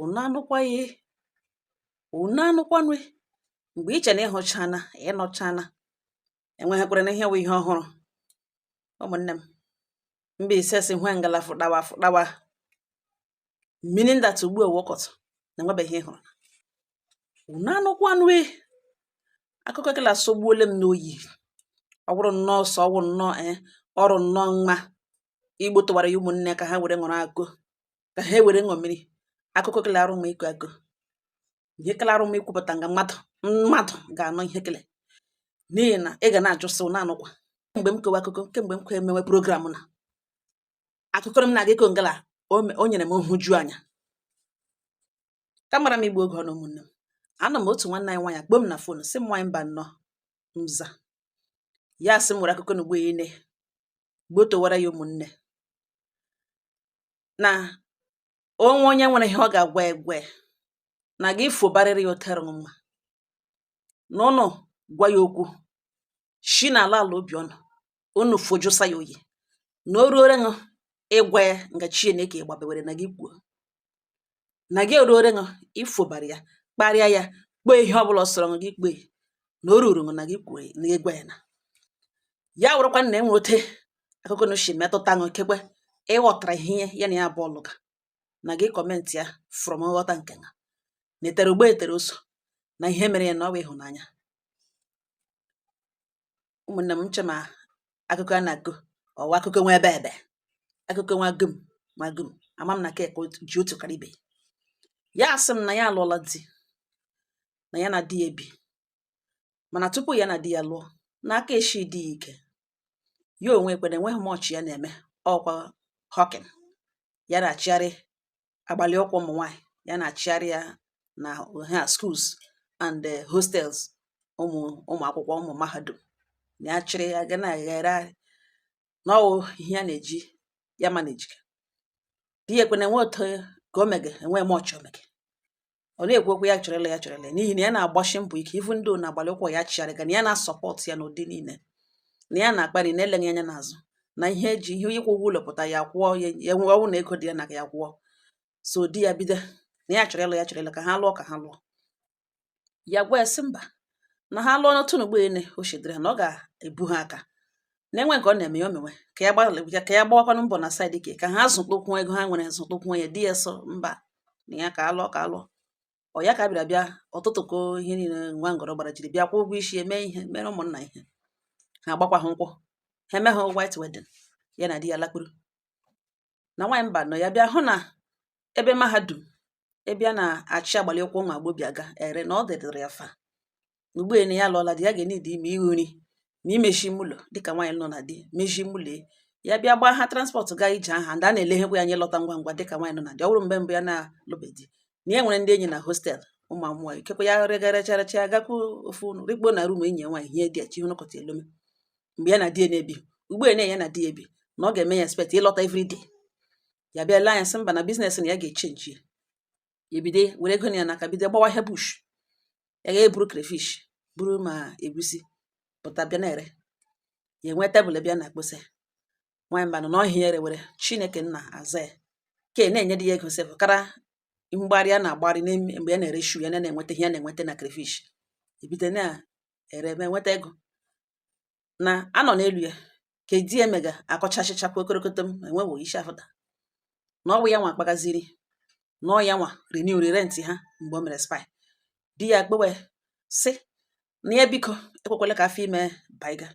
unu anụkwaghị unu anụkwanụ mgbe iche na ịhụchana ịnụchana enweghịkwara na ihe wụ ihe ọhụrụ ụmụnne m mbaise si hwe ngala fụdawa fụdawa meaning that ugbu a wọkọtụ na enwebeghị ihe ịhụrụ unu anụkwanụ akụkọ kele asọgbuole m n'oyi ọ bụrụ nnọọ sọ ọwụ nnọọ ee eh, ọrụ nnọọ mma igbotowara ya ụmụnne ka ha were ṅụrụ akụ ka ha ewere ṅụọ mmiri akụkọ kele arụ mma ịkọ akọ ihe kele arụ mma ikwupụta nga mmadụ mmadụ ga-anọ ihe kele n'ihi na ị ga na-ajụ sị unu anụkwa kemgbe m kewa akụkọ kemgbe m kwe emewe program na akụkọ m na-aga iko ngala o nyere m nhụju anya kamara m igbu oge ọnụ ụmụnne m anọ m otu nwanne anyị nwaanyị akpọ m na fon sị m nwaanyị mbanọ m za ya sị m nwere akụkọ na ugbo ya ine gbotowara ya ụmụnne na onwe onye nwere ihe ọ ga-agwa egwe na gị fobarịrị ya otere mma na unu gwa ya okwu shi na ala ala obi ọnụ unu fojusa ya oyi na o ruore ṅụ ịgwa ya nga chineke gbabewere na gị kwuo na gị eruore ṅụ ifobara ya kparịa ya kpee ihe ọbụla ọ sọrọ ṅụ gị kpee na o ruru ṅụ na gị kwue na gị gwa ya na ya wụrụkwa na enwe ote akụkọ na shi metụta ṅụ kekwe ịghọtara ihe ya na ya bụ ọlụga na gị comment ya from nghọta nke na etere ụgba etere ụzọ na ihe mere ya na ọ wụ ịhụnanya ụmụnne m nche ma akụkọ a na-akọ ọ wụ akụkọ nwa ebe ebe akụkọ nwa gum nwa gum ama m na ka ekwe ji otu kara ibe ya asị m na ya alụọla di na ya na di ya ebi mana tupu ya na di ya lụọ na aka eshi di ya ike ya onwe ekwe na enweghị much ya na-eme ọkwa hawking ya na-achịgharị agbalị ụkwụ ụmụ nwaanyị ya na-achịgharị ya na ha schools and eh, hostels ụmụ ụmụ akwụkwọ ụmụ mahadum na ya chịrị ya ga na-eghere na ọ wụ ihe ya na-eji ya manage di ya ekwena enwe otu ka o mege enwe much omege ọ na-ekwu okwu ya chọrọ ịlụ ya chọrọ ịlụ ya n'ihi na ya na-agbashi mbọ ike ivu ndị na agbalị ụkwụ ya chigharịga na ya na-asọpọtụ ya n'ụdị niile na ya na-akpali na eleghị anya n'azụ na ihe eji ihe ịkwụ ụgwọ ụlọ pụta ya kwụọ ya nwee ọnwụ na ego dị ya na ya kwụọ so di ya bido na ya chọrọ ịlụ ya chọrọ ịlụ ka ha lụọ ka ha lụọ ya gwa ya sị mba na ha lụọ n'otu n'ugbo ene o chedere na ọ ga-ebu ha aka na enwe nke ọ na-eme ya omewe ka ya gbalịa ka ya gbawakwanụ mbọ na side ke ka ha zụtụkwuo ego ha nwere zụtụkwuo ya di ya sị mba na ya ka alụọ ka alụọ ọ ya ka bịara bịa tụtụkọ ihe niile nwa ngọrọ gbara jiri bịa kwụọ ụgwọ ishi eme ihe mere ụmụnna ihe ha agbakwa ha nkwụ ha eme ha white wedding ya na di ya lakpuru na nwaanyị Mbano ya bịa hụ na ebe mahadum ebe a na-achị agbalị ụkwụ ụmụ agbọbịa ga ere na ọ dịdịrị ya far na ugbu na ya lụọla di ya ga-enidi ime ihu nri na imechi ime ụlọ dịka nwaanyị nọ na di mechi ime ụlọ ya bịa gbaa ha transpọtụ gaa ije ahịa ndị a na-eleghekwa ya anya lọta ngwa ngwa dịka nwaanyị nọ na di ọ bụrụ mgbe mbụ ya na-alụbe di na ya nwere ndị enyi na hostel ụmụ amụwa ikekwa ya regarecharacha ya gakwu ofu rikpo na rum enyi ya nwaanyị ihe dị ya chi hụnụkọta elome mgbe ya na di ya na-ebi ugbu a ya na di ya ebi na ọ ga-eme ya expect ịlọta everyday ya bịa lee anya sị mba na biznes na ya ga-echenji ya ebido were ego ya n'aka bido gbawa ahịa bush ya ga-eburu crayfish buru ma egusi pụta bịa na-ere ya enwe tebụl bịa na akpụsị nwaanyị Mbano na ahịa erewere chineke nna aza ya ke na-enye di ya ego sef kara mgbarị a na-agbarị mgbe ya na-ere shu ya na-enweta ihe ya na-enweta na crayfish ebido na-ere ma enweta ego na anọ n'elu ya ka di ya mega akọchachịcha kwa okorokoto m enwewo isi afụta na ọ bụ ya nwa akpagaziri na ọ ya nwa renewri rent ha mgbe o mere expire di ya kpewe sị na ya biko ekwekwele ka afọ ime baiga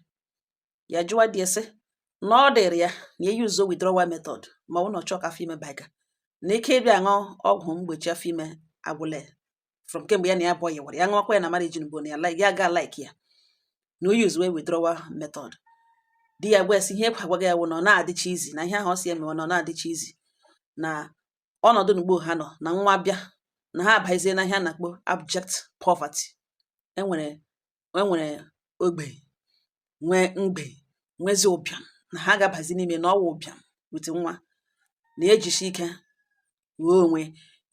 ya jụwa di ya sị na ọ dịrị ya na e yuzuo withdrawal method ma ọ bụ na ọ chọọ ka afọ ime baiga na ike ịbịa aṅụ ọgwụ mgbochi afọ ime agwụla ya from kemgbe ya na ya abụọ yịwara ya ṅụwakwa ya na marriage ugbu na ya ga like ya na o usewe withdrawal method di ya gwa ya sị ihe ekwe agwaghị ya wụ na ọ na-adịcha easy na ihe ahụ ọ sị ya mewe na ọ na-adịcha easy na ọnọdụ n'ugbo ha nọ na nwa bịa na ha abazie na ihe a na-akpọ abject poverty enwere e nwere ogbenye mgbei nwezi ụbịam na ha ga-abazi n'ime na ọwa ụbịam with nwa na ejisi ike nwunye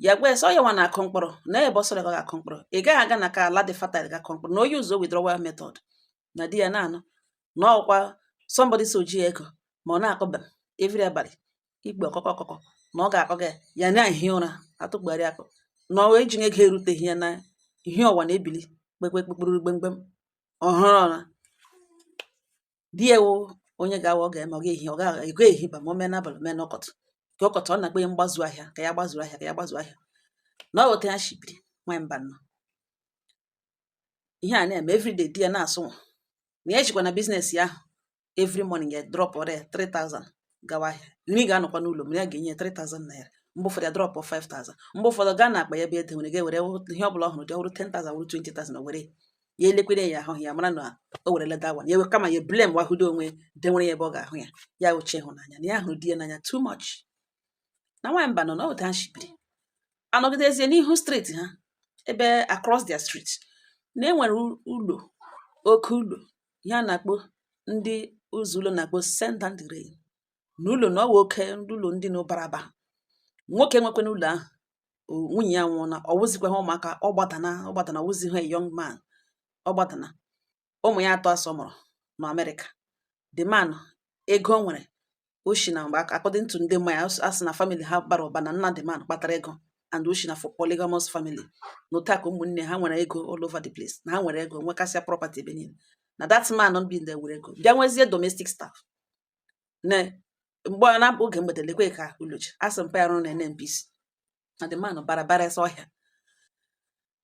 ya gwa sị ọ ya nwa na-akụ mkpụrụ na ebe ọ sọrọ ga-akụ mkpụrụ ị gaghị aga na ka ala dị fertile ga-akụ mkpụrụ na o yuzuo withdrawal method na di ya na-anụ na ọkwa somebody sị o ji ego ma ọ na-akụ bam every abalị ikpe ọkụkọ ọkụkọ na ọ ga-akọ gị ya na ehi ụra atụgharị akụ na ọwa eji ego eruteghị ya na ihe ọwa na-ebili kpekpekpekpuru gbemgbem ọhụrụ ụra di ya wụ onye ga-awa ọ ga-eme ọ ga-ehi ọ ga-ego ehi ba ma o mee n'abalị mee n'ụtụtụ ka ụtụtụ ọ na-akpọ ya mgbazu ahịa ka ya gbazuru ahịa ka ya gbazuru ahịa na ọ wụ etu ya shi biri nwanyị Mbano ihe a na-eme everyday di ya na-asụ nwa na ya jikwa na biznes ya ahụ every morning ya dropụrụ ya 3000 gawa ahịa nri ga-anọkwa n'ụlọ m ya ga-enye 3000 naira mgbe ụfọdụ ya drop 5000 mgbe ụfọdụ gaa na akpa ya bụ e denwere ga-ewere ihe ọ bụla ọ hụrụ dị ọ wụrụ 10000 wụrụ 20000 were ya elekwere ya ahụ ya mara na o were leda wan ya ewe kama ya blamewa hudo onwe denwere ya ebe ọ ga-ahụ ya ya uche ịhụnanya na ya hụrụ di ya n'anya too much na nwaanyị Mbano na otu ha shi biri anọgidezie n'ihu street ha ebe across their street na enwere ụlọ oke ụlọ ihe a na-akpọ ndị ụzọ ụlọ na-akpọ send down the rain na ụlọ na ọ wụ oke ụlọ ndị na ọ bara ụba nwoke nwekwanụ ụlọ ahụ nwunye ya anwụọna ọ wụzikwa ha ụmụaka ọ gbadana ọ gbadana ọ wụzihụ young man ọ gbadana ụmụ ya atọ a sị ọ mụrụ na Amerịka the man ego o nwere o shi na mgbe according to ndị ma ya a sị na family ha bara ụba na nna the man kpatara ego and o shi na for polygamous family na otu aka ụmụnne ha nwere ego all over the place na ha nwere ego nwekasịa property ebe niile na that man bi ndị were ego bịa nwezie domestic staff na mgbe ọ na-abụ oge mgbede lekwe ka ulochi a sị mpa ya rụrụ na NNPC na the man bara bara ese ọhịa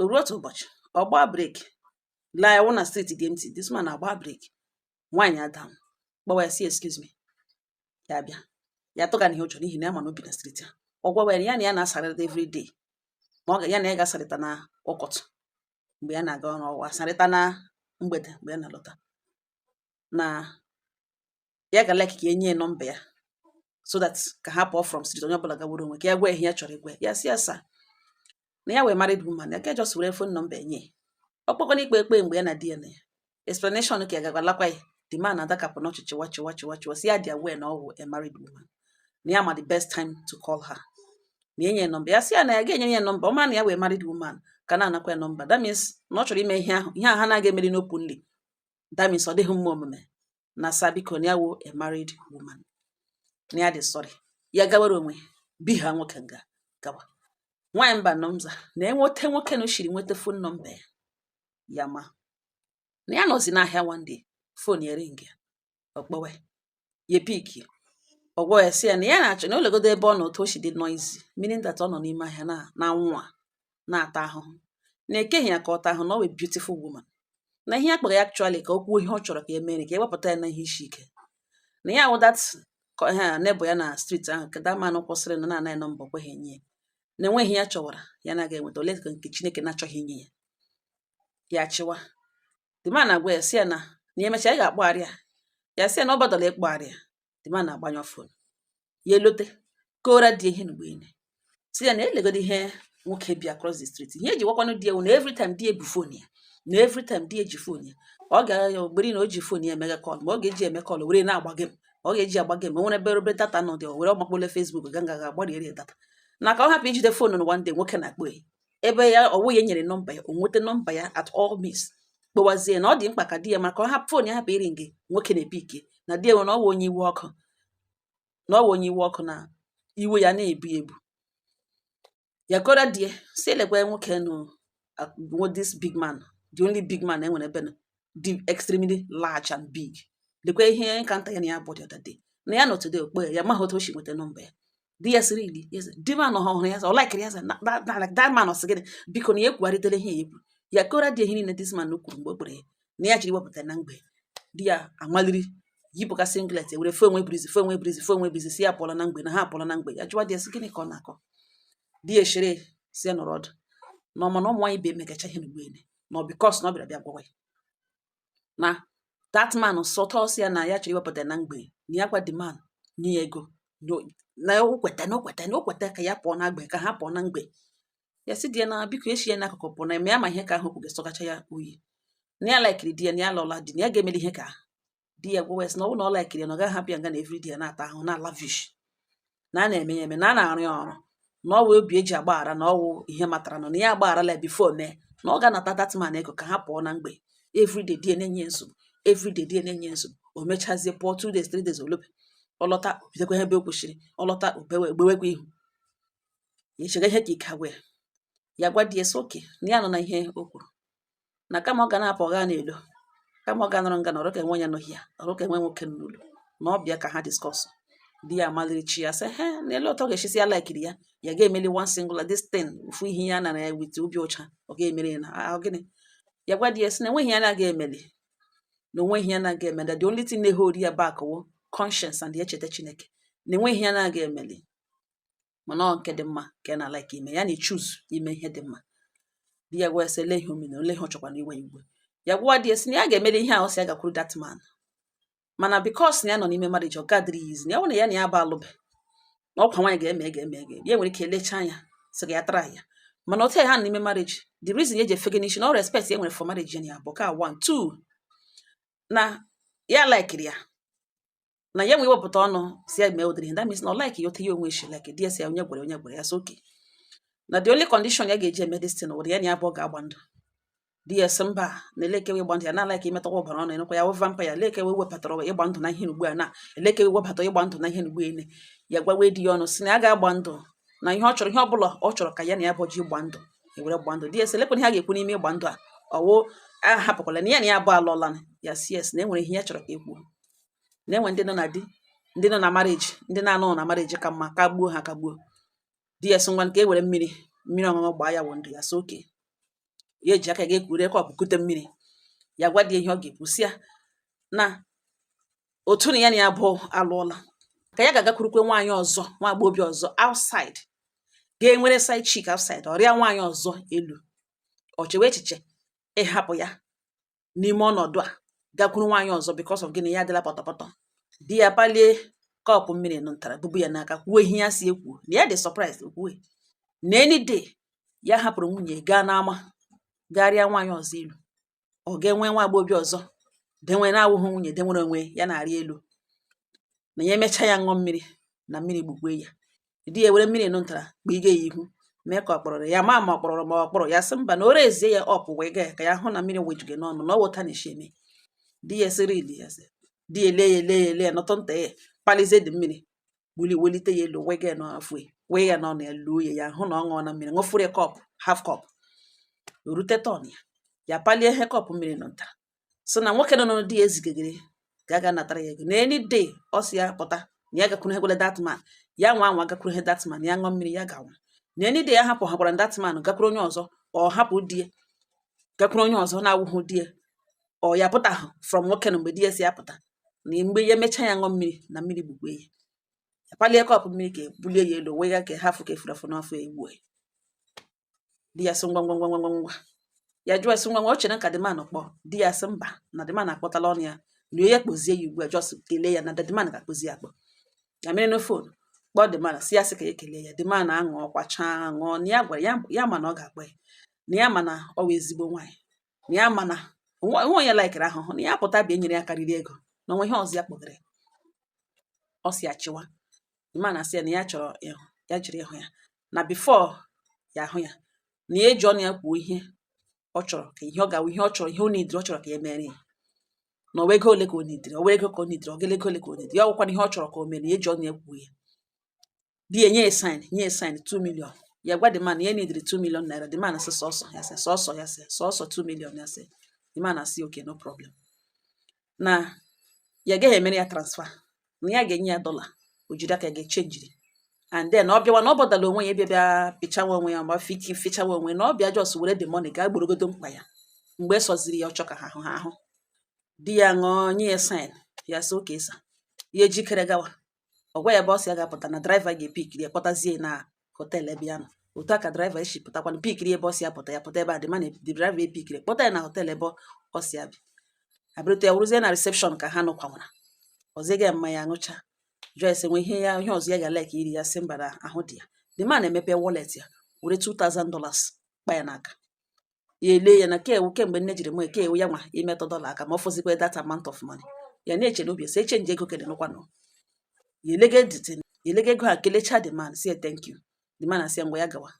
o ruo otu ụbọchị ọ gbaa breki lee ya wụ na street dị empty this man agba breki wind down gwawa ya sị excuse me ya bịa ya tụga na ihe ọ chọrọ n'ihi na ya ma na o bi na street a ọ gwawa ya na ya na ya na-asarịta every day ma ọ ga ya na ya ga-asarịta na ụtụtụ mgbe ya na-aga ọrụ ọ wụ asarịta na mgbede mgbe ya na-alọta na ya ga like ka o nye ya nọmba ya so that ka ha pụọ from street onye ọbụla gawara onwe ka ya gwa ihe ya chọrọ ịgwa ya sị ya sir na ya wụ a married woman ya ka just were fon nọmba enye ọ kpọkwana ikpe ekpe mgbe ya na di ya nọ ya explanation ka ya ga-agwalakwa ya the man adakapụ n'ọchị chịwa chịwa chịwa chịwa sị ya dị aware na ọ wụ a married woman na ya ma the best time to call her na enye nọmba ya sị ya na ya ga-enye ya nọmba ọ mara na ya wụ a married woman ka na-anakwa ya nọmba that means na ọ chọrọ ime ihe ahụ ihe ahụ ha na-aga emeri n'openly that means ọ dịghị mma omume na sir biko na ya wụ a married woman na ya dị sorry ya gawara onwe bi ha nwoke nga gawa nwaanyị mba nọmza na enweta nwoke na shiri nweta fon nọmba ya ya ma na ya nọzi n'ahịa one day fon ya ring ya ọ kpọwa ya piki ọ gwa ya sị ya na ya na-achọ na o legodu ebe ọ nọ otu o si dị noisy meaning that ọ nọ n'ime ahịa na na nwa na-ata ahụhụ na e keghị ya ka ọ taa ahụhụ na ọ wụ a beautiful woman na ihe ya kpọrọ ya actually ka o kwuo ihe ọ chọrọ ka e mere ka e wepụta ya na ihe isi ike na ya wụ that ha nebụ ya na street ahụ ka the man kwụsịrị na na-anaghị nọmba o kweghị enye ya na o nweghị ihe ya chọwara ya na-aga enweta ole ka nke Chineke na-achọghị inye ya ya chịwa the man agwa ya sị ya na na ya emechaa ya ga-akpọgharị ya ya sị ya na ọ botherla ịkpọgharị ya the man agbanyụọ fon ya alọta kọọrọ di ihe mgbe ine sị ya na legodu ihe nwoke bi across the street ihe o ji gwakwanụ di ya wụ na every time di ebu fon ya na every time di eji fon ya ọ gara ya ogberi na o ji fon ya emega kọl ma ọ ga-eji eme kọl were na-agba gem ọ ga-eji agba gem o nwere ebe obere data nọ dị were ọgbakpole Facebook ga nga ga agbariere data na ka ọ hapụ ijide fon na one day nwoke na-akpọ ya ebe ya ọwụ ya nyere nọmba ya o nweta nọmba ya at all means kpọwazie na ọ dị mkpa ka di ya maka ọ hapụ fon ya hapụ iri nge nwoke na-ebi ike na di ya nwere ọ wụ onye iwe ọkụ na ọ wụ onye iwe ọkụ na iwe ya na-ebu ebu ya kọrọ di ya si elekwa nwoke nụ uh, this big man the only big man enwere ebe nọ dị extremely large and big lekwa ihe nkata ya na ya bụ the other day na ya nọ today ọ kpọ ya maghị otu o si nweta nọmba ya di ya sị really ya sị the man ọ hụrụ ya sị ọ laikiri ya sị na na- na- like that man ọ sị gịnị biko na ya ekwugharịtela ihe ya ekwu ya kọrọ di ya ihe niile this man kwuru mgbe o kpere ya na ya jiri wepụta na mgbei di ya amaliri yipụka singlet were fe onwe breeze fe onwe breeze fe onwe breeze si ya pụọla na mgbei na ha apụọla na mgbei ya jụwa di ya sị gịnị ka ọ na-akọ di ya eshere si ya nọrọ ọdụ na ọ ma na ụmụ nwaanyị bụ emegacha ihe n'ugbo ele na ọ because na ọ bịara bịa gwawa ya na that man so toast ya na ya chọrọ iwepụta na mgbei na ya gwa the man nye ya ego na o kweta na o kweta na o kweta ka ya pụọ na mgbei ka ha pụọ na mgbei ya si di ya na biko echi ya n'akụkụ pụọ na eme ya ma ihe ka ahụ kwuga sọgacha ya oyi na ya laikiri di ya na ya lụọla di na ya ga-emeli ihe ka di ya gwa ya sị na ọ bụrụ na ọ laikiri ya na ọ gaghị hapụ ya nga na every day ya na-ata ahụhụ na lavish na a na-eme ya eme na a na-arụ ya ọrụ na ọ wụ obi e ji agbaghara na ọ wụ ihe matara nọ na ya agbagharala before mee na ọ ga-anata that man ego ka ha pụọ na mgbei everyday di ya na-enye nsogbu everyday di ya na-enye nsogbu o mechazie pụọ two days three days ọ lọbe ọ lọta o bidokwa ebe ọ kwụsịrị ọ lọta o gbewekwa ihu ya echega ihe ka ike agwụ ya ya gwa di ya sị okay na ya anụna ihe o kwuru na kama ọ ga na-apụ ọ ga n'ilo kama ọ ga nọrọ nga nọrọ ka enwe ya n'ohi ya ọrụ ka enwe nwoke n'ụlọ na ọ bịa ka ha discuss di ya amaliri chi ya sị he na ele otu ọ ga-eji sị ya laikiri ya ya ga-emeli one single this thing ofu ihe ya nara ya with obi ọcha ọ ga-emeli ya na ọ wụ gịnị ya gwa di ya sị na enweghị ya na-aga emeli na onweghị ya na-aga emeli the only thing na-ehold ya back wụ conscience and echeta Chineke na enweghị ya na-aga emeli mana ọ nke dị mma ka ya na-alike ime ya na-echoose ime ihe dị mma di ya gwa ya sị ele ihe o mena ole ihe ọ chọkwara iwe iwe ya gwa di ya sị na ya ga-emeli ihe ahụ si ya gakwuru that man mana because na ya nọ n'ime marriage ọ gadịrị ya easy na ya nwere ya na ya bụ alụbe na ọkwa nwaanyị ga-eme ga-eme ga ya nwere ike elechaa anya sị ya tara ya mana otu ya ha n'ime marriage the reason ya ji efege n'isi na ọ respect ya nwere for marriage ya bụ ka one two na ya laikiri ya na ya nwe wepụta ọnụ si ya mee ụdịrị ihe that means na ọ like ya otu ya onwe shi like di ya si ya onye gwara onye gwara ya so okay na the only condition ya ga-eji eme this thing wụrụ ya na ya bụ ọ ga-agba ndụ di ya si mba na elekewe ịgba ndụ ya na like imetọkwa ọbara ọnụ enekwa ya wụ vampire elekewe wepụtara ịgba ndụ na ihe ugbu a na elekewe webata ịgba ndụ na ihe ugbu a ene ya gwawe di ya ọnụ si na ya ga-agba ndụ na ihe ọ chọrọ ihe ọ bụla ọ chọrọ ka ya na ya bụ ji gba ndụ ewere gba ndụ di ya si elekwana ihe a ga-ekwu n'ime ịgba ndụ a ọwụ ahapụkwala na ya na ya bụ alụọla ya si yes na e nwere ihe ya chọrọ ka e kwuo na-enwe ndị nọ na di ndị nọ na marriage ndị na-anọ na marriage ka mma ka gbuo ha ka gbuo di ya sị ngwa nke e were mmiri mmiri ọṅụṅụ gbaa ya wụ ndụ ya sị okay ya eji aka ga ekuru kọpụ kute mmiri ya gwa di ihe ọ ga-ekwu sị ya na otu na ya na ya bụ alụọla ka ya ga-agakwurukwe nwaanyị ọzọ nwa agbọghọbịa ọzọ outside ga-enwere side chick outside ọ rịa nwaanyị ọzọ elu ọ chewe echiche ịhapụ ya n'ime ọnọdụ a gakwuru nwaanyị ọzọ because of gịnị ya adịla pọtọpọtọ di ya palie kọpụ mmiri nụ ntara bubu ya n'aka kwuo ihe ya si ekwu na ya dị surprised kwue na any day ya hapụrụ nwunye gaa n'ama ga rịa nwaanyị ọzọ elu ọ ga-enwe nwa agbọghọbịa ọzọ denwe na-awụghị nwunye denwere onwe ya na-arị elu na ya emechaa ya ṅụọ mmiri na mmiri gbukwe ya di ya were mmiri ntara kpige ya ihu mee ka ọ kpọrọrọ ya ma ma ọ kpọrọrọ ma ọ kpọrọ ya sị mba na o rezie ya ọpụ wee gaa ka ya hụ na mmiri wejuge n'ọnụ na ọ wụta na esi eme di ya sịrị ili ya sị di ya ele ya ele ya ele ya nọtọ nta ya palizie the mmiri wuli welite ya elu wee gaa n'afọ ya wee ya n'ọnụ ya luo ya ya hụ na ọ ṅụọna mmiri ṅụfọrọ ya kọpụ half kọpụ rute turn ya ya palie ihe kọpụ mmiri nọ nta sị na nwoke nụ di ya zigagere ka a ga-anatara ya ego na any day ọ sị ya pụta na ya gakwuru hegwele that man ya nwa anwa gakwuru ihe that man ya ṅụọ mmiri ya ga-anwụ na any day ya hapụ ha gwara that man gakwuru onye ọzọ ọ hapụ di ya gakwuru onye ọzọ na-awụhụ di ya ọ ya pụta from nwoke na mgbe di ya si ya pụta na mgbe ya emechaa ya ṅụọ mmiri na mmiri gbukwe ya apalie kọpụ mmiri ka ebulie ya elu wee ya ka ha fụ ka efuru afụ n'afọ egbu ya di ya sị ngwa ngwa ngwa ngwa ngwa ya jụọ sị ngwa ngwa o chere ka the man kpọọ di ya sị mba na the man akpọtala ọnụ ya na ya kpọzie ya ugbu a just kelee ya na the man ga-akpọzi akpọ ya mere na phone kpọọ the man sị ya sị ka ya kelee ya the man aṅụọkwa chaa ṅụọ na ya gwara ya ma na ọ ga-akpọ ya na ya ma na ọ wụ ezigbo nwaanyị na ya ma na o nwe onye laikiri ahụhụ na ya pụta bịa nyere ya karịrị ego na o nwe ihe ọzọ ya kpọgara ọ si achịwa the man asị ya na ya chọrọ ịhụ ya jiri ịhụ ya na before ya ahụ ya na ya eji ọnụ ya kwuo ihe ọ chọrọ ka ihe ọ ga-awụ ihe ọ chọrọ ihe ọ nidiri ọ chọrọ ka ya emere ya na ọ wụ ego ole ka ọ nidiri ọ wụ ego ka ọ nidiri ọgele ego ole ka ọ nidiri ya ọ wụkwana ihe ọ chọrọ ka o mere ya eji ọnụ ya kwuo ya di ya nye ya sign nye ya sign 2 million ya gwa the man ya nidiri 2 million naira the man asị sọsọ ya sị sọsọ ya sị sọsọ 2 million ya sị the man asị okay no problem na ya gaghị emere ya transfer na ya ga-enye ya dọla o jiri aka ga chenjiri and then ọ bịawa na ọ bọdala onwe ya bịa bịa fichawa onwe ya ma fiti fichawa onwe na ọ bịa just were the money gaa gborogodo mkpa ya mgbe ọ sọziri ya ọ chọ ka ha hụ ha ahụ di ya ṅụọ nye ya sign ya sị okay sir ya ejikere gawa ọ gwa ya ebe ọ si ya ga-apụta na driver ga-epikiri ya kpọtazie na hotel ebe ya nọ otu a ka driver esi pụtakwana pikiri ebe ọ si ya pụta ya pụta ebe a dị mana the driver epikiri kpọta ya na hotel ebe ọ si ya bi abịrịta ya wụrụzie na reception ka ha nọkwanwara ọziga ya mmanya aṅụcha jụọ ese nwe ihe ya ihe ọzọ ya ga-like iri ya sị mba na ahụ dị ya the man emepe wallet ya were 2000 dollars kpa ya n'aka ya ele ya na kewu kemgbe nne jiri mee kewu ya nwa imetụ dollar aka ma ọ fọzikwa that amount of money ya na-eche n'obi esi echenji ego kele nụkwanụ ya elega ego ha kelecha the man sị thank you the man asị ngwa ya gawa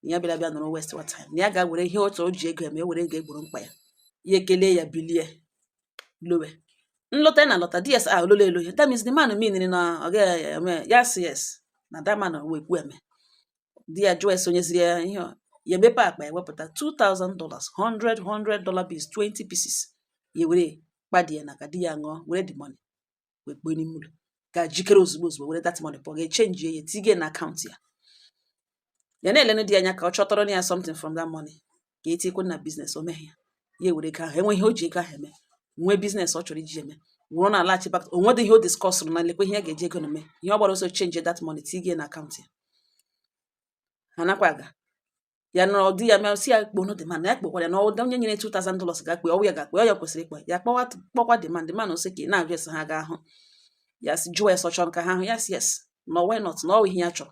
ya bịara bịa nọrọ waste wa time na ya ga were ihe otu o ji ego ya ma e were ego egboro mkpa ya ya ekele ya bilie lọwe nlọta na alọta di sị ya ololo elo ya that means the man mean na ọ gaghị eme yes yes na that man wụ ekwueme di ya jụọ ese o nyeziri ya ihe ọ- ya emepe akpa ya wepụta 2000 dollars 100 100 dollar bills 20 pieces ya were kpa di ya n'aka di ya ṅụọ were the money wee kpuo n'ime ụlọ ga jikere ozugbo ozugbo were that money pụọ ga echenji ya tigie na akaụntụ ya ya na-elenu di ya anya ka ọ chọtọrọ ya something from that money ka e tinyekwa na business o meghị ya ya ewere ego ahụ enweghị ihe o ji ego ahụ eme nwee business ọ chọrọ iji eme ọ wụrụ na alaghachi back o nwedị ihe o diskọsụrụ na lekwa ihe ya ga-eji ego na eme ihe ọ gbara ọsọ chenji that money tigie na akaụntụ ya ha nakwa aga ya nọrọ di ya bịa sị ya kpọọnụ the man ya kpọkwara ya na ọda onye nyere 2000 dollars ga-akpọ ọ wụ ya ga-akpọ ọ ya kwesịrị ịkpọ ya kpọwa kpọkwa the man man sị ka ị na-ajụ ese ha ga-ahụ ya sị jụọ ya sị ọ chọ ka ha ahụ ya sị yes na why not na ọ wụ ihe ya chọrọ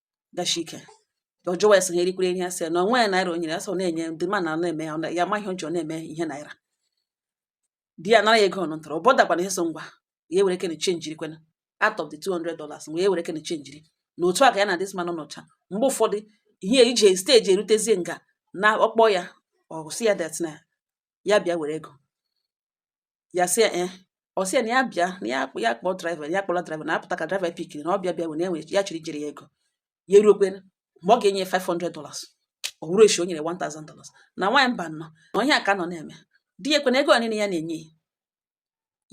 gashi ike ọ jụwa ya sị ha erikwere ihe asị ya na onwe ya naira o nyere ya sị ọ na-enye the man na-eme ya ọ na- ya amaghị ọjọọ na-eme ihe naira di ya nara ya ego ọnụ ntọrọ ụbọda gbara ihe so ngwa ya ewere kene chenjiri kwena out of the 200 dollars ngwa ya ewere kene chenjiri na otu a ka ya na this man nọ nọcha mgbe ụfọdụ ihe ije stage erutezie nga na ọ kpọọ ya ọ sị ya that na ya bịa were ego ya sị eh, ọ sị na ya bịa na ya akpọ ya kpọọ driver ya kpọla driver na apụta ka driver pikiri na ọ bịa bịa were onwe ya chịrị jiri ya ego ya eruokwe mgbe ọ ga-enye 500 dollars ọ wụrụ echi o nyere 1000 dollars na nwaanyị mba nọ na onye aka nọ na-eme di ya ekwe na ego niile ya na-enye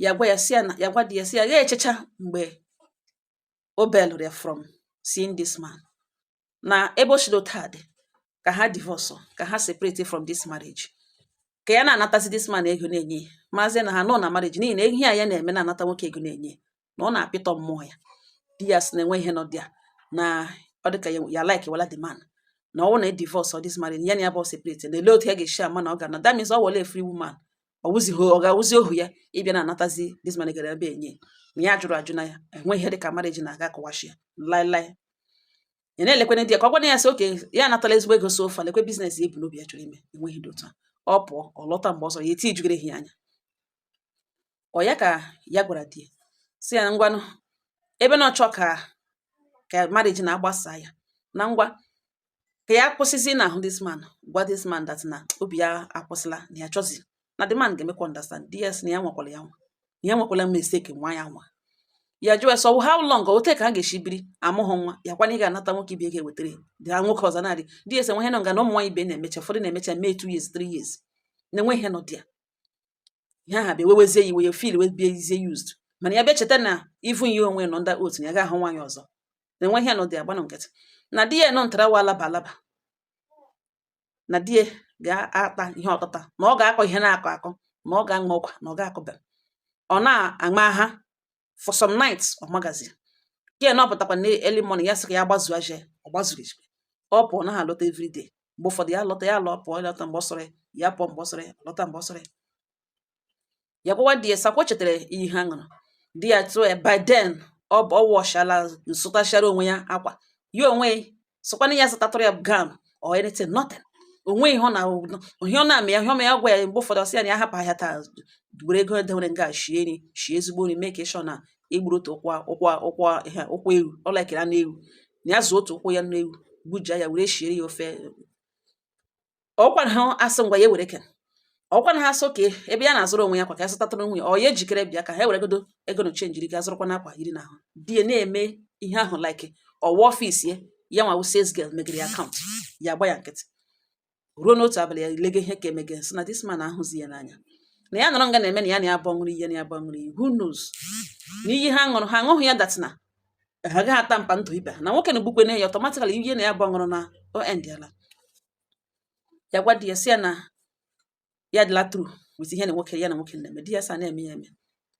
ya gwa ya sị ya na ya gwa di ya sị ya ya echecha mgbe o belụrụ ya from seeing this man na ebe o shi otu a dị ka ha divorce ka ha separate from this marriage ka ya na-anatazi this man ego na-enye maazị na ha nọ na marriage n'ihi na ihe a ya na-eme na-anata nwoke ego na-enye na ọ na-apịtọ mmụọ ya di ya sị na enwe ihe nọ dị ya na ọ dị ka ya likewala the man na ọ wụ na e divorce ọ this marriage ya na ya bi separate na ele otu ya ga-eshi ama na ọ ga na that means ọ wụla a free woman ọ wụzighị ọ ga-awụzi ohu ya ịbịa na-anatazi this man gara ebe enye ma ya jụrụ ajụ na ya enweghị ihe dị ka marriage na-aga akọwashi ya laịlaị ya na-elekwana di ya ka ọ gwana ya sị okay ya anatala ezigbo ego so far lekwe business ya bu n'obi ya chọrọ ime enweghị dị otu a ọ pụọ ọ lọta mgbe ọ sọrọ ya eti ijugere ya anya ọ ya ka ya gwara di ya sị ya ngwanụ ebe na ọ chọ ka ka marriage na-agbasa ya na ngwa ka ya kwụsịzi na ahụ this man gwa this man that na obi ya akwụsịla na ya chọzi na the man ga-emekwa understand di ya sị na ya nwakwara ya nwa na ya nwakwala mistake nwa ya nwa ya jụọ so how long o take ka ha ga-esi biri amụghị nwa ya kwana ị ga-anata nwoke ibe ga-ewetara ya nwoke ọzọ na di ya sị enwe ihe nọ nga na ụmụ nwaanyị ibe na-emecha ụfọdụ na-emecha mee two years three years na enwe ihe nọ dị ya ihe aha bịa wewezie ya iwe ya feel wee biezie used mana ya bịa cheta na even ya onwe nọ ndị otu ya ga-ahụ nwaanyị ọzọ na enwe ihe nọ dị ya gbanụ nkịtị na di ya nọ ntara wa alaba alaba na di ya ga-ata ihe ọtata na ọ ga-akọ ihe na-akọ akọ na ọ ga-aṅụ ọkwa na ọ ga-akọba ọ na-aṅa ha for some nights ọ magazi ya na ọ pụtakwa na early morning ya sị ka ya gbazuo aje ọ gbazuru ejikwe ọ pụọ naha alọta everyday mgbe ụfọdụ ya lọta ya lọ pụọ lọta mgbe ọ sọrọ ya pụọ mgbe ọ sọrọ lọta mgbe ọ sọrọ ya gwawa di ya sị ọkwa chetara iyi ha ṅụrụ di ya tụọ ya by then ọ bụ ọ wọchala zụtachara onwe ya akwa ya onwe sokwana ya zụtatụrụ ya gown or anything nothing o nwe ihe ọ na ihe ọ na-eme ya ihe ọma ya gwa ya mgbe ụfọdụ ọ sị ya na ya hapụ ahịa taa were ego edewere nga shie nri shie ezigbo nri mee ka ịshọ na e gburu otu ụkwụ ụkwụ ụkwụ ihe ụkwụ ewu ọ likere anụ ewu na ya zụ otu ụkwụ anụ ewu gbuja ya were shiere ya ofe ọkwa na ha asị ngwa ya ewere ken ọkwa na ha asị okay ebe ya na-azụrụ onwe ya akwa ka ya zụtatụrụ nwunye ya ọ ya ejikere bịa ka ha were godo ego na chenjiri ga zụrụkwanụ akwa yiri n'ahụ di ya na-eme ihe ahụ like ọ wụ office ya ya nwa sales girl megere ya account ya gba ya nkịtị ruo n'otu abalị ya lege ihe ka emege sị na this man ahụzi ya n'anya na ya nọrọ nga na-eme na ya na ya abụọ ṅụrụ iyi na ya abụọ ṅụrụ iyi who knows na iyi ha ṅụrụ ha aṅụghị ya that na ha agaghị a-tamper ndụ ibe ha na nwoke na-egbukwe na ya automatically iyi na ya abụọ ṅụrụ na o endịala ya gwa di ya sị ya na ya dịla through with ihe na nwoke ya na nwoke na-eme di ya sị ọ na-eme ya eme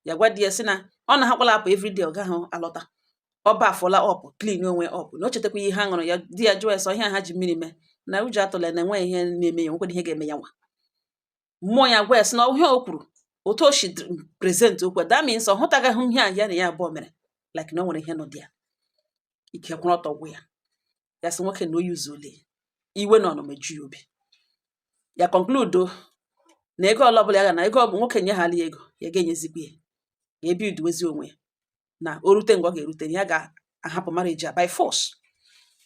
ya gwa di ya sị na ọ na hakwala apụ everyday ọ gaghị alọta ọ bafụla ọ pụ clean onwe ọ pụ na o chetakwa iyi ha ṅụrụ ya di ya jụọ ya sị ọ iyi ha ji mmiri mee na ụjọ atụla na enweghị ihe na-eme ya nwekwara ihe ga-eme ya nwa mmụọ ya gwa ya sị na ihe o kwuru otu o si present okwu that means ọ hụtagaghị ihe a ya na ya abụọ mere like na o nwere ihe nọ dị ya ike kwụrụ ọtọ gwụ ya ya sị nwoke na o zuole iwe na ọnụma eju ya obi ya conclude na ego ọla ọbụla ya ga na ego ọbụ nwoke nye ha ya ego ya ga-enyezikwa ya ga ebi uduwezi onwe ya na o rute mgbe ọ ga-erute ya ga-ahapụ marriage ya by force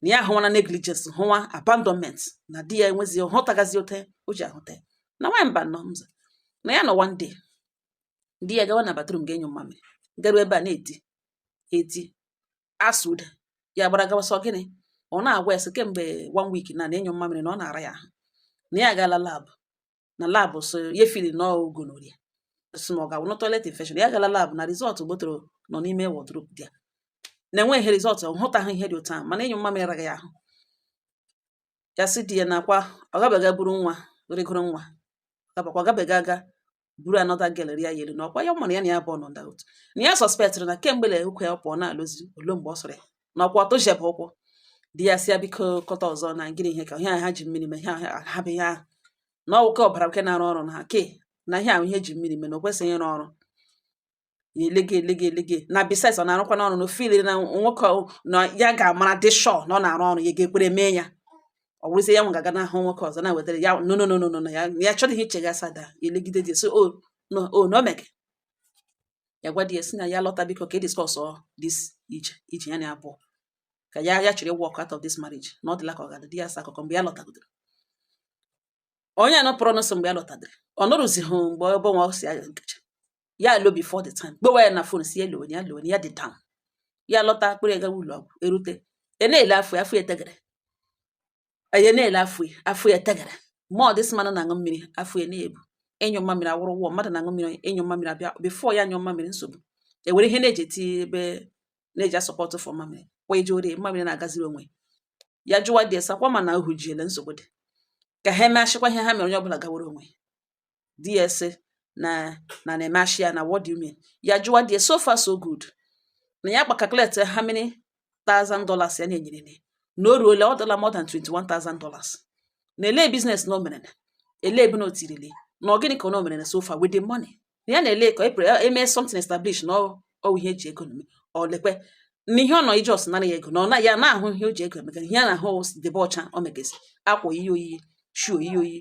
na ya ahụwana negligence hụwa abandonment na di ya enwezi hụtagazi otu o ji ahụta na nwaanyị mba nọ mza na ya nọ one day di ya gawa na bathroom ga-anyụ mmamịrị garuo ebe a na-eti eti asụda ya gbara gawa sị ọ gịnị ọ na-agwa ya sị kemgbe one week na ịnyụ mmamịrị na ọ na-ara ya ahụ na ya agala lab na lab so ya feel na ọ gonorrhea sị na ọ ga-awụ na toilet infection ya agala lab na result gbotoro nọ n'ime wardrobe di ya na enweghị result ọ hụtaghị ihe dị otu ahụ mana ịnyụ mmamịrị araga ya ahụ ya sị di ya na ọkwa ọ gabaga buru nwa rịgoro nwa gabakwa gabaga aga buru another girl rịa ya elu na ọkwa ya mara ya na ya bụ ọnọ nga otu na ya suspectịrị na kemgbe na ọkwa ya pụọ na-alọzi ụlọ mgbe ọ sọrọ ya na ọkwa ọ tụhiebe ụkwụ di ya sị ya biko kọta ọzọ na gịnị ihe ka ihe ha ji mmiri mee ihe ha bụ ihe ahụ na ọ wụ ke ọbara nke na-arụ ọrụ na ha ke na ihe ahụ e ji mmiri mee na o kwesịghị ịrụ ọrụ ya elege elege elege na besides ọ na-arụkwanụ ọrụ na ọ feel na nwoke na ya ga-amara dị sure na ọ na-arụ ọrụ ya ga-ekwere mee ya ọ bụrụzie ya nwa ga-aga n'ahụ nwoke ọzọ na-ewetara ya no no no no no ya ya chọrọ ihe iche ya sada ya elegide di so na o na o mege ya gwa di ya sị na ya lọta biko ka e discussọ this ije ije ya na abụọ ka ya ya chọrọ ị walk out of this marriage na ọ dịla ka ọ ga-adị di ya sị akụkọ mgbe ya lọtagodoro onye anọ pụrụ ọnụ sị mgbe ya lọtadịrị ọ nụrụzighị mgbe ebe nwa si aga nkecha ya alọ before the time gbewa ya na phone sị ya lewe ya lewe ya dị down ya lọta a kpọrọ ya gawa ụlọ ọgwụ e rute ya na-ele afọ ya afọ ya etegere ya na-ele afọ ya afọ ya etegere ma ọ dịsị mmadụ na-aṅụ mmiri afọ ya na-ebu ịnyụ mmamịrị awụrụ war mmadụ na-aṅụ mmiri ịnyụ mmamịrị abịa before ya anyụ mmamịrị nsogbu e were ihe na-eji eti ebe na-eji asupport for mmamịrị kwa ije ore mmamịrị na-agaziri onwe ya jụwa di sị ọkwa mana ọ hụjiele nsogbu dị ka ha emechịkwa ihe ha mere onye ọbụla gawara onwe di ya sị na na na-eme ashị ya na what do you mean ya jụwa di ya so far so good na ya calculate how many thousand dollars ya na-enyere ne na o ruole ọ dịla more than 21,000 dollars na olee business na o mere na olee ebe na o tirili na ọ gịnị ka o mere na so far with the money na ya na-ele ka e mee something establish na ọ ihe e ji ego na-eme ọ lekwe na ihe ọ nọ ije ọ sị nara ya ego na ọ na ya na-ahụ ihe o ji ego emega ihe a na-ahụ debe ọcha o megezi akwa oyiyi oyiyi shoe oyiyi oyiyi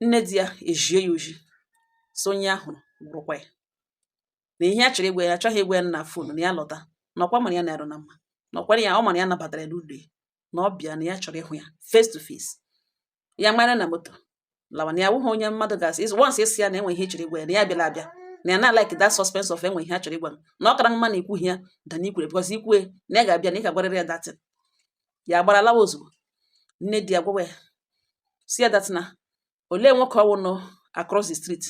nne di ya ezie ya ozi so onye ahụ gwarakwa ya na ihe a chọrọ ịgwa ya achọghị ịgwa ya na phone na ya lọta na ọkwa mara ya na-arụ na mma na ọkwara ya ọ mara ya nabatara ya n'ụlọ ya na ọ bịa na ya chọrọ ịhụ ya face to face ya mara na moto lawa na ya wụghị onye mmadụ ga-asị ịzụ once ị sị ya na e nwe ihe a chọrọ ịgwa ya na ya bịala abịa na ya na-alike that suspense of e nwe ihe a chọrọ ịgwa m na ọ kara mma na i kwughị ya than na i kwuru because i kwuo na ya ga-abịa na ị ga-agwarịrị ya that thing ya gbara lawa ozugbo nne di ya gwawa ya sị ya that na olee nwoke ọwụ nọ across the street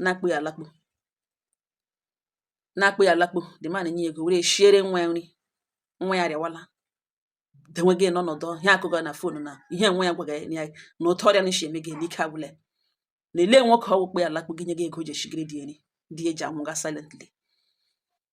na-akpụ ya alakpo na-akpụ ya alakpo the man nye ego were shiere nwa ya nri nwa ya arịawala dewe gị n'ọnọdụ ihe akụkọ na phone na ihe nwa ya gwaga ya na otu ọrịa na-esi eme gị na ike agwụla ya na ele nwoke ọwụ kpe alakpo gị nye gị ego ji eshigiri di eri di eji anwụga silently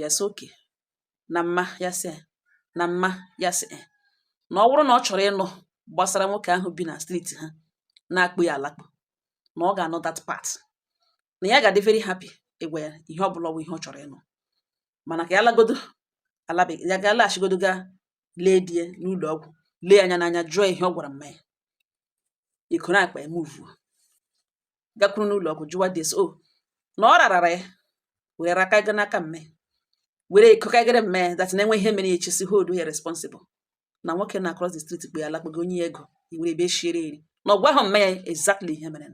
ya sị okay na mma ya sị na mma ya sị na ọ bụrụ na ọ chọrọ ịnụ gbasara nwoke ahụ bi na street ha na-akpụ ya alakpụ na ọ ga-anụ that part na ya ga-adị very happy ịgwa ya ihe ọ bụla ọ wụ ihe ọ chọrọ ịnụ mana ka ya lagodo alabeghị ya ga alaghachigodo ga lee di ya n'ụlọ ọgwụ lee anya n'anya jụọ ihe ọ gwara mma ya ekoro akpa ya muvuo gakwuru n'ụlọ ọgwụ jụwa di ya so na ọ rarara ya were raka ego n'aka mma ya were ekokagere mma ya that na enwe ihe mere ya echesi hold ya responsible na nwoke nọ across the street kpe ya alakpo nye ya ego iwere ebe shiere eri na ọ gwahụ mma ya exactly ihe mere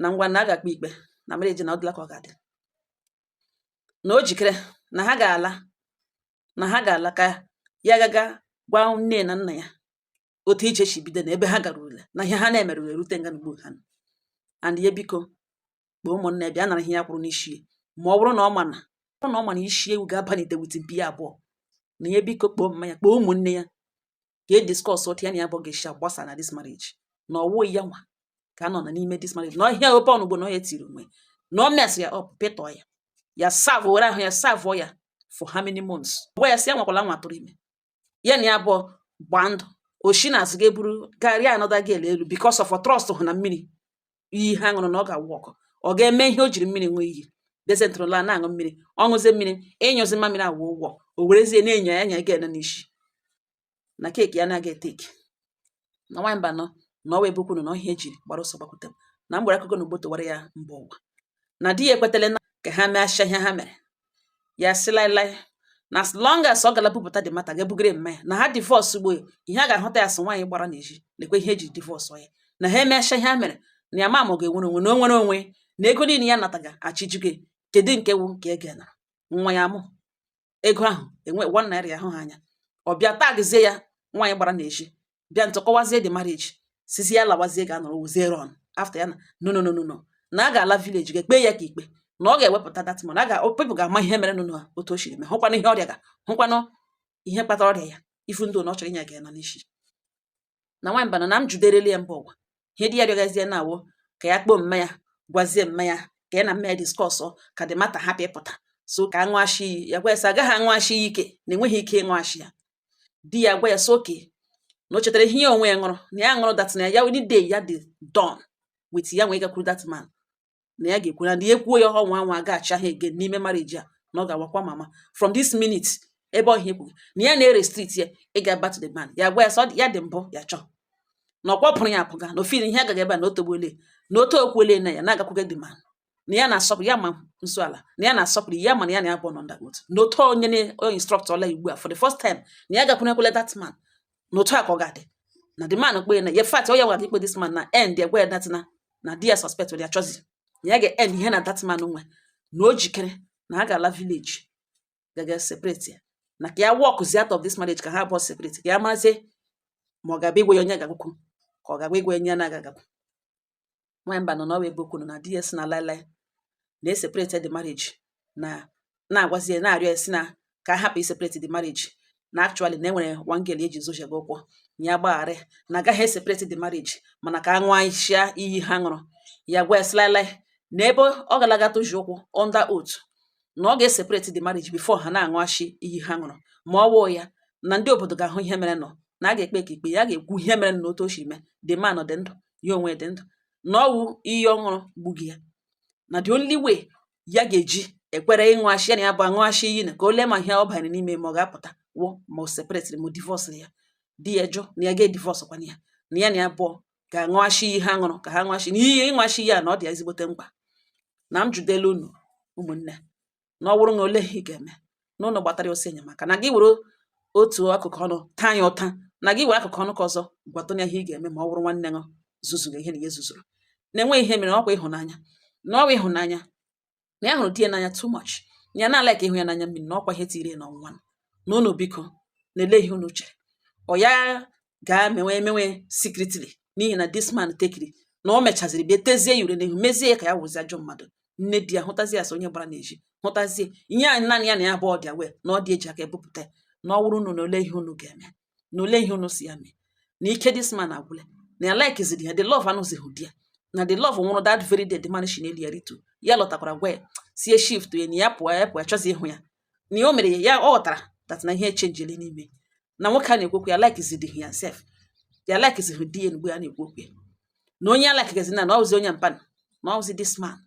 na ngwa na a ga-ekpe ikpe na marriage na ọ dịla ka ọ ga-adị na o jikere na ha ga-ala na ha ga-ala ka ya gaga gwa nne na nna ya otu ije si bido na ebe ha garurula na ihe ha na-emere wee rute nga n'ugbo ha nọ and ya biko kpọọ ụmụnna ya bịa nara ihe ya kwụrụ n'isi ya ma ọ bụrụ na ọ ma na ọ bụrụ na ọ ma na isi ewu ga-abali ite with mpi ya abụọ na ya biko kpọọ mma ya kpọọ ụmụnne ya ka e discuss otu ya na ya abụọ ga-esi agbasa na this marriage na ọwụ ya nwa ka a nọ na n'ime this marriage na ọhịa ope ọnụgbo na ọ ya tiri onwe na ọ messịrị ya up pịtọọ ya ya serve were ahụ ya serve-ọ ya for how many months gwa ya sị ya nwakwala anwa tụrụ ime ya na ya abụọ gbaa ndụ o shi n'azụ ga-eburu ga arịa another girl elu because of trust hụ na mmiri iyi ha ṅụrụ na ọ ga-awụ ọkụ ọ ga-eme ihe o jiri mmiri ṅụọ iyi dysentery a na-aṅụ mmiri ọ ṅụzie mmiri ịnyụzi mmamịrị awụọ war o werezie na-enyo ya anyaga ya n'isi na keke ya na-aga etake na nwaanyị mba nọ na ọwa ebe ukwunu na ọ ihe e ji gbara ọsọ gbakwute m na m gwara akụkọ na ugbo tụwara ya mba ụwa na di ya ekwetele na ka ha mechaa ihe ha mere ya sị laịlaị na as long as ọ gala bupụta the matter ga ebugara mma ya na ha divorce ugbo ya ihe a ga-ahụta ya sị nwaanyị gbara n'ezi lekwa ihe e ji divorce ya na ha emecha ihe ha mere na ya ma ma ọ ga-enwere onwe na o nwere onwe na ego niile ya nataga achịjugo kedu nke wụ nke e ga nwa ya mụ ego ahụ enwe one naira ya ahụ ha anya ọ bịa tagzie ya nwaanyị gbara n'ezi bịa ntụ kọwazie the marriage sịzi ya lawazie ga anọrọ wuzie run after ya na no no no no no na a ga-ala village ga-ekpe ya ka ikpe na ọ ga-ewepụta that money ka people ga-ama ihe mere nụ otu o siri mee hụkwanụ ihe ọ rịaga hụkwanụ ihe kpatara ọrịa ya even though na ọ chọrọ ịnyaga ya n'isi na nwaanyị bana na m judereli ya mba ụwa ihe di ya rịọgazie na awụ ka ya kpọọ mma ya gwazie mma ya ka ya na mma ya discuss ka the matter hapụ ịpụta so ka aṅụ ashi iyi ya gwa ya sị agaghị aṅụ ashi iyi ike na enweghị ike ịṅụ ashi ya di ya gwa ya sị okay na o chetara ihe ya onwe ya ṅụrụ na ya ṅụrụ that na ya any day ya dị done with ya nwee gakwuru that man na ya ga-ekwu na ya ekwuo ya ọhọ nwa nwa ga-achị ahụ ege n'ime marriage a na ọ ga-awakwa mama from this minute ebe ọhịa ekwu na ya na-erestrict ya ịga back to the man ya gwa ya sọ ya dị mbụ ya chọọ na ọ kpọpụrụ ya apụga na ofiri ihe agaghị ebe a na otogbuole na otu okwuole na ya na-agakwuga the man na ya na-asọpụrụ ya ma nso ala na ya na-asọpụrụ ya mana ya na ya abụọ nọ under oath na otu onye na instruct ọla ugbu a for the first time na ya gakwurukwala that man na otu a ka ọ ga-adị na the man kpee na in fact onye gwara ikpe this man na end ya gwa ya that na di ya suspect were achọzi na ya ga-end ihe ya na that man nwe na o jikere na ha ga-ala village gaga separate ya na ka ya walkzie out of this marriage ka ha abụọ separate ka ya mazie ma ọ ga-abịa ịgwa ya onye ọ ga-agakwu ka ọ ga-abịa ịgwa ya onye na aga nwamba nọ n'ọwa ebe kwuru na di ya sị na laịlaị na eseparate the marriage na na-agwazi ya na-arịọ ya sị na ka a hapụ iseparate the marriage na actually na enwere one girl eji zochebe ụkwụ ya gbagharị na agaghị eseparate the marriage mana ka a ṅụọ ashi iyi ha ṅụrụ ya gwa ya sị laịlaị na ebe ọ galaga toji ụkwụ under oath na ọ ga-eseparate the marriage before ha na-aṅụ ashi iyi ha ṅụrụ ma ọ wụghị ya na ndị obodo ga-ahụ ihe merenụ na a ga-ekpekwa ikpe ya ga-ekwu ihe mere na otu o si mee the man dị ndụ ya onwe dị ndụ na ọ wụ iyi ọ ṅụrụ gbughị ya na the only way ya ga-eji ekwere ịṅụ ashi ya na ya abụọ aṅụ ashi iyi na ka o lee ma ihe ọ banyere n'ime ma ọ ga-apụta wụ ma o separatịrị ma o divorcịrị ya di ya jụ na ya ga-edivorcekwana ya na ya na ya abụọ ga-aṅụ ashi iyi ha ṅụrụ ka ha ṅụ ashi na iyi ịṅụ ashi iyi a na ọ dị ya ezigbote mkpa na m jụdela unu ụmụnne na ọ wụrụ na ole ihe ị ga-eme na unu gbatara ya ọsọ enyemaka na gị were otu akụkụ ọnụ taa ya ụta na gị were akụkụ ọnụ nke ọzọ gwatụ ya ihe ị ga-eme ma ọ wụrụ nwanne gị zuzuru ihe na ya zuzuru na-enweghị ihe mere ọ kwa ịhụnanya na ọ wụ ịhụnanya na ya hụrụ di ya n'anya too much ya na-ala ka ịhụ ya n'anya mmiri na ọ kwa ihe tiri ya n'ọnwụnwa na unu biko na-ele ihe unu chere ọ ya gaa mewe emewe secretly n'ihi na this man trickiri na o mechaziri bịa tezie ya ure n'ihu mezie ya ka ya wụzi ajọ mmadụ nne di ya hụtazie ya sị onye gbara n'ezi hụtazie ihe anyị naanị ya na ya abụọ dị aware na ọ di ya ji aka ebupụta na ọ wụrụ unu na ole ihe unu ga-eme na ole ihe unu sị ya mee na ike this man agwụla na ya likezighị ya the love anọzighị there na the love nwụrụ that very day the man shi n'elu ya rituo ya lọtakwara gwa ya sị ya shift ya na ya pụọ ya pụọ ya achọzighị ịhụ ya na ya o mere ya ya ọ ghọtara that na ihe echenjili n'ime na nwoke a na-ekwu okwu ya likizidi ya sef ya likizidi di ya mgbe a na-ekwu okwu ya na onye ya likigezi na na ọ wụzi onye mpan na ọ wụzi this man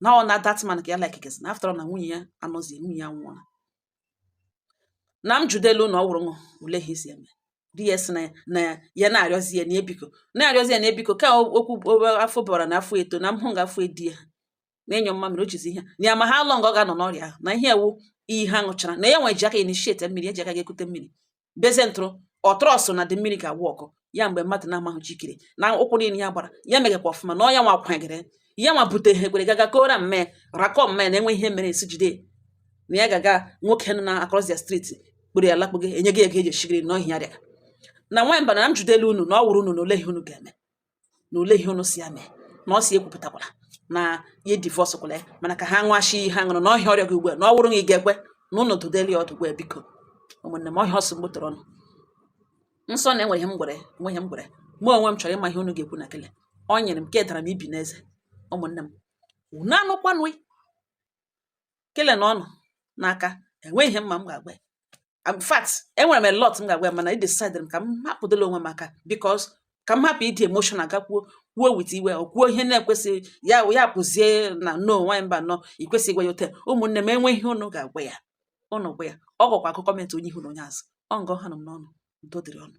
na ọ na that man ka ya likigezi na after all na nwunye ya anọzi nwunye ya nwụọla na m jụdelu na ọ wụrụ unu ole ihe isi eme di ya si na ya na ya ya na-arịọzi ya na ebiko na-arịọzi ya na ebiko ka okwu afọ bara na afọ eto na m hụ nga afọ edi ya na-anyụ mmamịrị o jizi ihe ya ma how long ọ ga-anọ n'ọrịa ahụ na ihe ewu iyi ha ṅụchara na ya nwe ji aka initiate mmiri eji aka ga-ekute mmiri bezie ntụrụ ọtrọsụ na dị mmiri ga-awụ ọkụ ya mgbe mmadụ na-amaghị jikere na ụkwụ niile ya gbara ya megakwa ọfụma na ọ ya nwa kwagere ya nwa bute ha ekwere gaga kora mme rakọ mme na enwe ihe mere esi jide na ya gaga nwoke nọ na across the street kpụrụ ya lakpụgo enye gị ego eji eshigiri na ọhịa rịa na nwanyị Mbano na m jụdelu unu na ọ wụrụ unu na ole ihe unu ga-eme na ole ihe unu si ya mee na ọ si ekwupụtakwala na ya divorcekwala ya mana ka ha ṅụachi ihe aṅụrụ na ọ ihe ọ rịọga ugbu a na ọ wụrụ na ị ga-ekwe na ụnụ dụdeli ya ọdụ gwa ya biko ụmụnne m ọ ihe ọ sị m gbotoro ụnụ nsọ na enweghị ihe m gwere mụ onwe m chọrọ ịma ihe unu ga-ekwu na kele ọ nyere m ka edara m ibi n'eze ụmụnne m unu anụkwanụ kele nọ ụnụ n'aka enweghị ihe mma m ga-agwa ya in fact enwere m a lot m ga-agwa ya mana I decided ka m hapụdịla onwe m aka because ka m hapụ ịdị emotional gakwuo kwuo with iwe ọ kwuo ihe na-ekwesịghị ya ya pụzie na no nwaanyị Mbano ikwesịghị ịgwa ya otu a ụmụnne m e nwee ihe ụnụ ga-agwa ya ụnụ gwa ya ọ gakwa agụ comment onye ihu na onye azụ ọ nga ọ ha m n'ọnụ udo dịrị ụnụ